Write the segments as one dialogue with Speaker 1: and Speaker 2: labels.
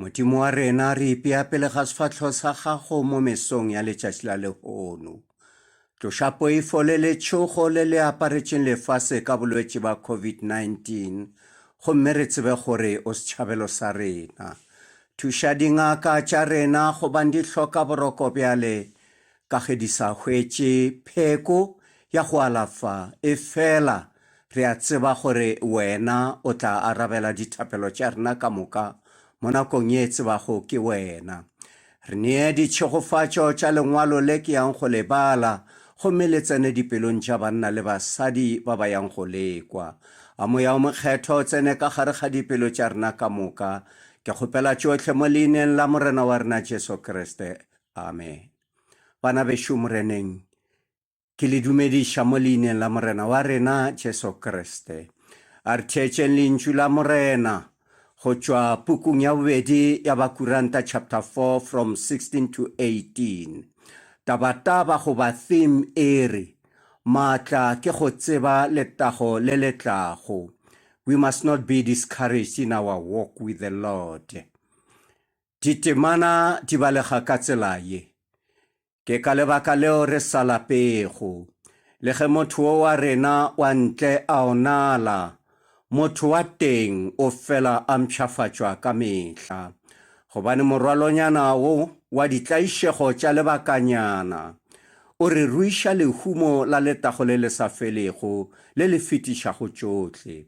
Speaker 1: Modimo wa rena, re ipea pele ga sefatlho sa gago mo mesong ya letšatši la lehono. Tloša poifo le letšhogo le le aparetšeng lefase ka bolwetši ba COVID-19 gomme re tsebe gore o setšhabelo sa rena. Thuša dingaka tša rena gobane di hloka boroko bjale ka ge di sa hwetše pheko ya go alafa, efela re a tseba gore Wena o tla arabela dithapelo tša rena ka moka mo nakong ye e tsebago ke Wena. Re nee ditšhegofatšo tša lengwalo le ke yang go le bala, gomme le tsene dipelong tša banna le basadi ba ba yang go le kwa. A Moya o Mokgethwa o tsene ka gare ga dipelo tša rena ka moka. Ke kgopela tšohle mo Leineng la Morena wa rena Jesu Kriste. Amen. Bana bešo Moreneng, ke le dumediša mo leineng la Morena wa rena Jesu Kriste. A re theetšeng lentšu la Morena go tšwa pukung ya bobedi ya Bakuranta chapter 4 from 16 to 18. Tabataba goba theme e re, Maatla ke go tseba letago le le tlago. We must not be discouraged in our walk with the Lord. Ditemana di balega ka tsela ye. Ke ka lebaka leo re sa lapego. Le ge motho wo wa rena wa ntle a onala, motho wa teng o fela a mpshafatšwa ka mehla. Gobane morwalonyana wo wa ditlaišego tša lebakanyana o re ruiša lehumo la letago le le sa felego le le fetišago tšohle.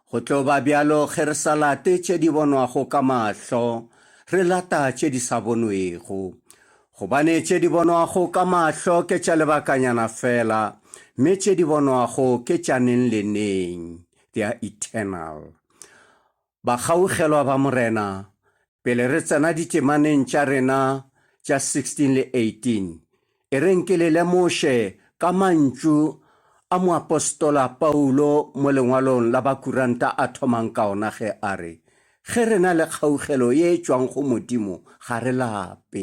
Speaker 1: Go tlo ba bjalo ge re sa late tše di bonwago ka mahlo, re lata tše di sa bonwego. Gobane tše di bonwago ka mahlo ke tša lebakanyana fela, mme tše di bonwago ke tša neng le neng, they are eternal. Bakgaogelwa ba Morena, pele re tsena ditemaneng tša rena tša 16 le 18, e reng ke le lemoše ka mantšu a moapostola Paulo mo lengwalong la Bakuranta a thomang ka ona ge a re, Ge re na le kgaogelo ye e tšwang go Modimo, ga re lape.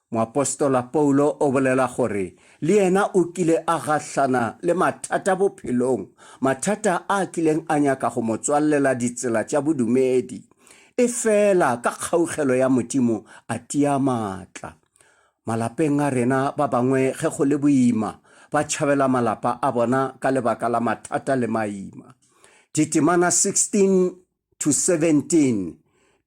Speaker 1: Moapostola Paulo o bolela gore le yena o kile a gahlana le mathata bophelong, mathata a kileng a nyaka go mo tswallela ditsela tša bodumedi. Efela ka kgaugelo ya Modimo a tia matla. Malapeng a rena ba bangwe ge go le boima ba tšhabela malapa a bona ka lebaka la mathata le maima. Ditemana 16, 12-17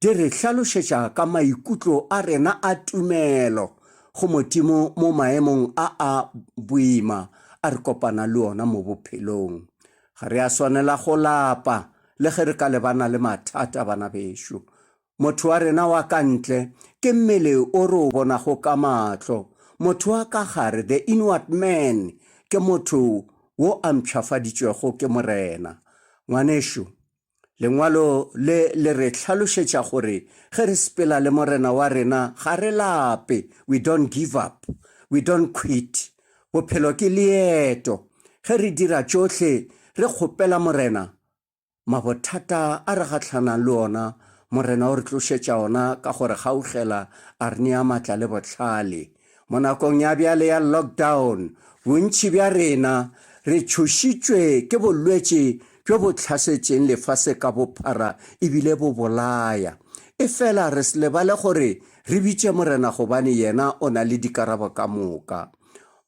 Speaker 1: di re hlalošetša ka maikutlo a rena a tumelo go Modimo mo maemong a a boima a re kopana le ona mo bophelong. Ga re a swanela go lapa le ge re ka lebana le mathata, bana bešo. Motho wa rena wa ka ntle ke mmele o re o bonago ka mahlo. Motho wa ka gare, the inward man, ke motho wo a mpšhafaditšwego ke Morena. Ngwanešu, Lengwalo le le re hlalošetša gore ge re sepela le Morena wa rena ga re lape, we don't give up, we don't quit. Bophelo ke leeto. Ge re dira tšohle re kgopela Morena, mabothata a re gahlana le ona Morena o re tlošetša ona ka go re kgaugela a re nea matla le bohlale. Mo nakong ya bjale ya lockdown, bontši bja rena re tšhošitšwe ke bolwetši bjo bo tlhasetšeng lefase ka bophara e bile bo bolaya. Efela re se lebale gore re bitše Morena gobane yena o na le dikarabo ka moka.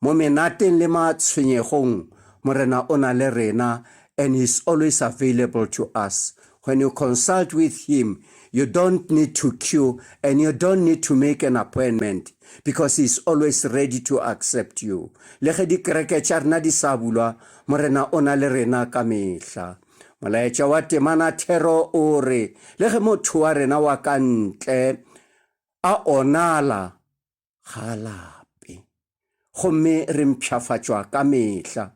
Speaker 1: Mo menateng le matshwenyegong, Morena o na le rena and he's always available to us. When you consult with him, you don't need to queue and you don't need to make an appointment because he is always ready to accept you. Le ge dikereke tša rena di sa bulwa, Morena o na le rena ka mehla. Molaetša wa temana thero o re, Le ge motho wa rena wa ka ntle a onala, ga a lape. Gomme re mpšhafatšwa ka mehla.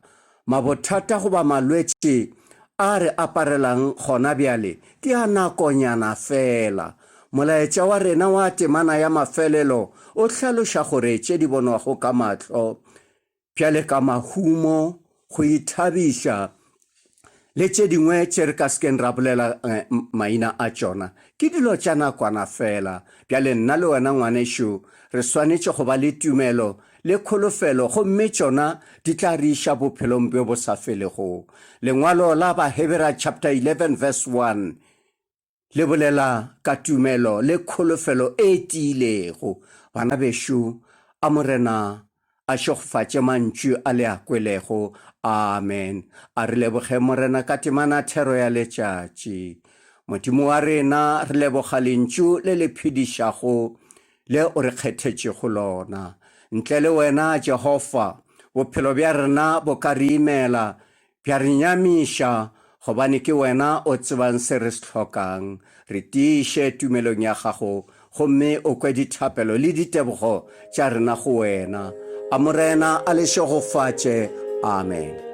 Speaker 1: Mabothata goba malwetši a re aparelang gona bjale ke a nakonyana feela. Molaetša wa rena wa temana ya mafelelo o hlaloša gore tše di bonwago ka mahlo bjale ka mahumo, go ithabiša, le tše dingwe tše re ka se keng ra bolela eh, maina a tšona, ke dilo tša nakwana fela. Bjale nna le wena, ngwanešu, re swanetše go ba le tumelo le kholofelo, gomme tšona di tla re iša bophelong bjo bo sa felego. Lengwalo la Bahebera chapter 11 verse 1 Le bolela ka tumelo le kholofelo e tiilego, bana bešo, a Morena a šegofatše mantšu a le a kwelego. Amen. A re lebogeng Morena ka temana thero ya letšatši. Modimo wa rena, re leboga Lentšu le le phedišago le o re kgethetšego lona. Ntle le wena, Jehofa, bophelo bja rena bo ka re imela Ke a re nyamiša, gobane ke wena o tsebang se re se hlokang. Re tiiše tumelong ya gago gomme o kwe dithapelo le ditebogo tša rena go wena. A Morena a le šegofatše. Amen.